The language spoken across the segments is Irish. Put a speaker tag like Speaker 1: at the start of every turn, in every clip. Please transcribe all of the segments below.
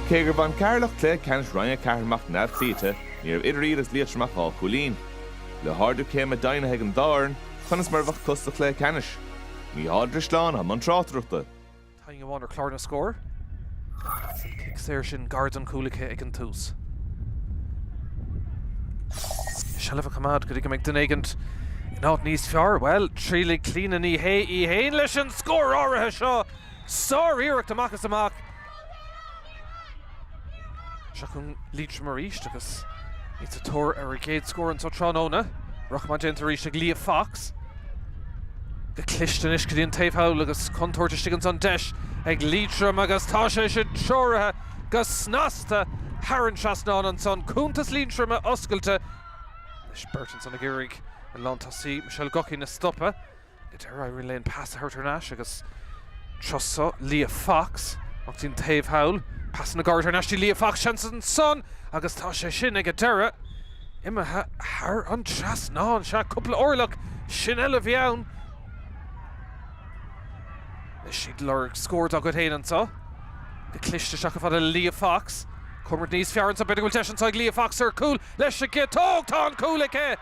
Speaker 1: Cé gur bhain Ceatharlach cluiche ceannais Roinn 4 amach neamhchloíte, ní raibh idir iad agus Liatroim ach dhá chúilín. Le hardú céime deimhnithe ag an dá fhoireann, conas mar a bheadh acu sa chluiche ceannais? Micheál Ó Drisleáin i mbun tráchtaireachta. Taobh amháin ar
Speaker 2: chlár na scór agus an cic saor sin gar don chúl acu ag an tús. Seilbh a choimeád go dtí go mbeidh duine éigin in áit níos fearr. Bhuel, trialfaidh Clíona Ní Shé í fhéin leis an scór áirithe seo! Sár-iarracht amach is amach. Seo chun Liatroim arís agus iad sa tóir ar a gcéad scór anseo tráthnóna. Rith maith déanta arís ag Leah Fox. Go cliste anois go dtí an taobh thall agus contúirt istigh ansan. Deis ag Liatroim agus tá sé sin treoraithe go snasta thar an trasnán ansan. Cuntas Liatroma oscailte. Anois beirt ansan ag iarraidh an lán tosaí, Michelle Guckian a stopadh. Go deimhin éiríonn leo an pas a thabhairt thar n-ais agus trí chosa Leah Fox ach den taobh thall. Pasanna gairide thar n-ais go dtí Leah Fox, seans ansan agus tá sé sin ag an deireadh. Imithe thar an trasnán. Sea, cúpla orlach, sin uile a bhí ann. Anois iad ag lorg scór dá gcuid féin anso. Go cliste isteach chomh fada le Leah Fox. Comhimirt níos fearr anso, b'fhéidir go bhfuil deis anso ag Leah Fox ar chúl leis an gciotóg. Tá an cúl aici!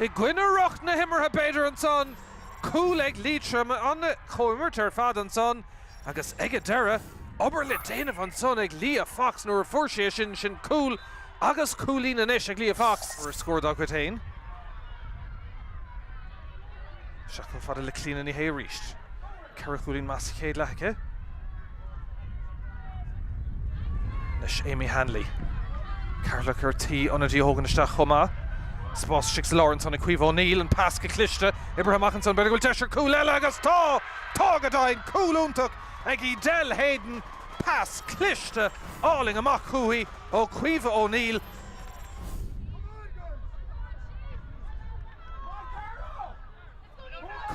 Speaker 2: i gcoinne riocht na himeartha b'fhéidir ansan, cúl ag Liatroim, an-chomhimirt ar fad ansan agus ag an deireadh, obair le déanamh ansan ag Leah Fox nuair a fuair sí é sin, sin cúl agus cúilín anois ag Leah Fox ó scór dá gcuid féin. Isteach chomh fada le Clíona Ní Shé arís. Ceithre chúilín imithe sa chéad leath aici. Anois Amy Hanley. Ceatharlach ar tí ionadaí a thógaint isteach chomh maith. Spás istigh sa lár ansan ag Caoimhe O'Neill, an pas go cliste, oibrithe amach ansan, b'fhéidir go bhfuil deis ar chúl eile agus tá! Tá go deimhin! Cúl iontach ag Edel Hayden, pas cliste álainn amach chúithi ó Caoimhe O'Neill.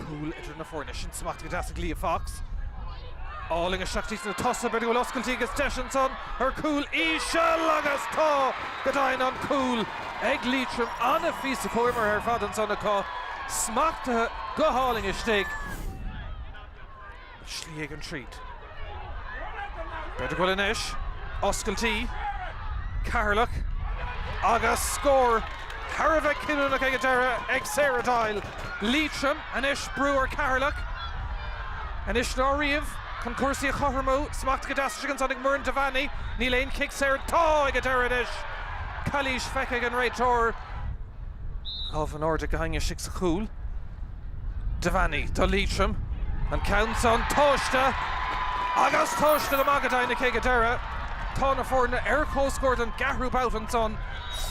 Speaker 2: Cúl idir na foirne. Sin smachtaithe go deas ag Leah Fox. Álainn isteach go dtí na tosaigh. B'fhéidir go bhfuil oscailtí agus deis ansan ar chúl íseal agus tá! Go deimhin an cúl ag Liatroim an-phíosa comhimeartha ar fad ansan acu. Smachtaithe go hálainn istigh. Slí éigin tríd. B'fhéidir go bhfuil anois. Oscailtí. Ceatharlach. Agus scór thar a bheith cinniúnach ag an deireadh ag Sarah Doyle. Liatroim anois brú ar Cheatharlach. Anois ná riamh chun cúrsaí a chothromú. Smachtaithe go deas ansan ag Muireann Devaney. Níl aon chic saor. Tá ag an deireadh anois. Calaois feicthe ag an réiteoir. Lámha in airde ag Hanley istigh sa chúl. Devaney do Liatroim. An ceann san tomhaiste agus tomhaiste go maith go deimhin aici ag an deireadh. Tá na foirne ar comhscór don gceathrú babhta ansan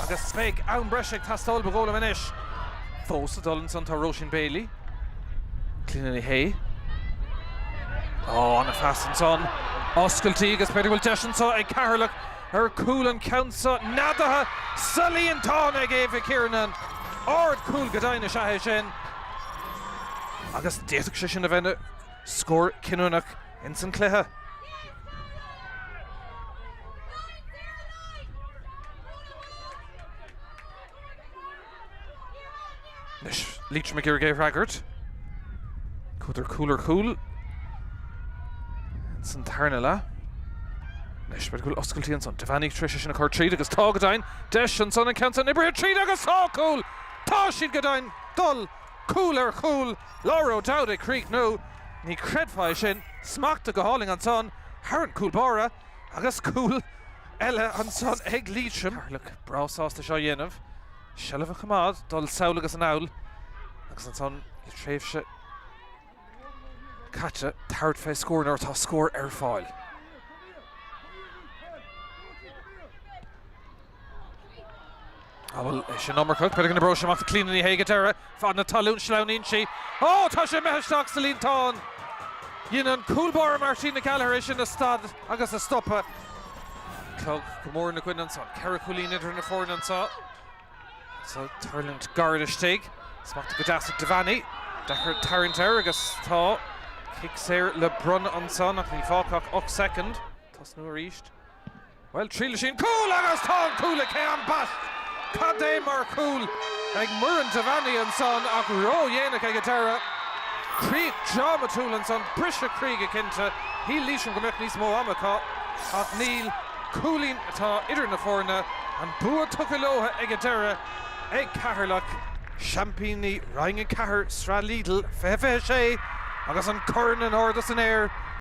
Speaker 2: agus beidh am breise ag teastáil ba dhóigh liom anois. Fós ag dul ansan tá Róisín Bailey. Clíodhna Ní Shé. Ó, ana-phas ansan. Oscailtí agus b'fhéidir go bhfuil deis anso ag Ceatharlach Ar chúl an ceann so, neadaithe sa líontán ag Aibha Kiernan. Ardchúl go deimhin is ea é sin agus d'fhéadfadh sé sin a bheith ina scór cinniúnach ins an cluiche. Anois Liatroim ag iarraidh é a fhreagairt. Chuadar cúl ar chúl ins an tarna leath. Anois b'fhéidir go bhfuil oscailtí ansan. Devaney tar éis é sin a chur tríd agus tá go deimhin deis ansan an ceann san oibrithe tríd agus tá cúl! Tá siad go deimhin dul cúl ar chúl. Laura O'Dowd ag críochnú. Ní chreidfeá é sin. Smeachta go hálainn ansan thar an cúl báire. Agus cúl eile ansan ag Liatroim. Ceatharlach breá sásta seo a dhéanamh. Seilbh a choimeád, dul sall agus anall agus ansan le tréimhse caite tabhairt fé scór nuair atá scór ar fáil. Á bhuel, sin an iomarca b'fhéidir ann. Bhrúigh sí amach do Clíodhna Ní Shé ag an deireadh, fad na talún. Sleamhnaíonn sí. Ó! Tá sé imithe isteach sa líontán! Dhein an cúl báire Martina Gallagher é sin a stad agus a stopadh. Clog go mór ina gcoinne anseo. Ceithre chúilín idir na foirne anseo. Seo ag tuirlingt gairid istigh. Smachtaithe go deas ag Devaney. Deacair tarraingt air agus tá cic saor le bronnadh anseo ach níl fágtha ach ocht soicind. Tosnú arís. Bhuel, triailfidh sí an cúl! Agus tá an cúl aici! Ambaist! Cad é mar chúl ag Muireann Devaney ansan ach ró-dhéanach ag an deireadh. Críoch drámatúil ansan, briseadh croí go cinnte. Shíl Liatroim go mbeadh níos mó ama acu ach níl. Cúilín atá idir na foirne. An bua tugtha leo ag an deireadh ag Ceatharlach. Seaimpíní Roinn 4 Sraith Lidl 2026 agus an corn in airde san aer!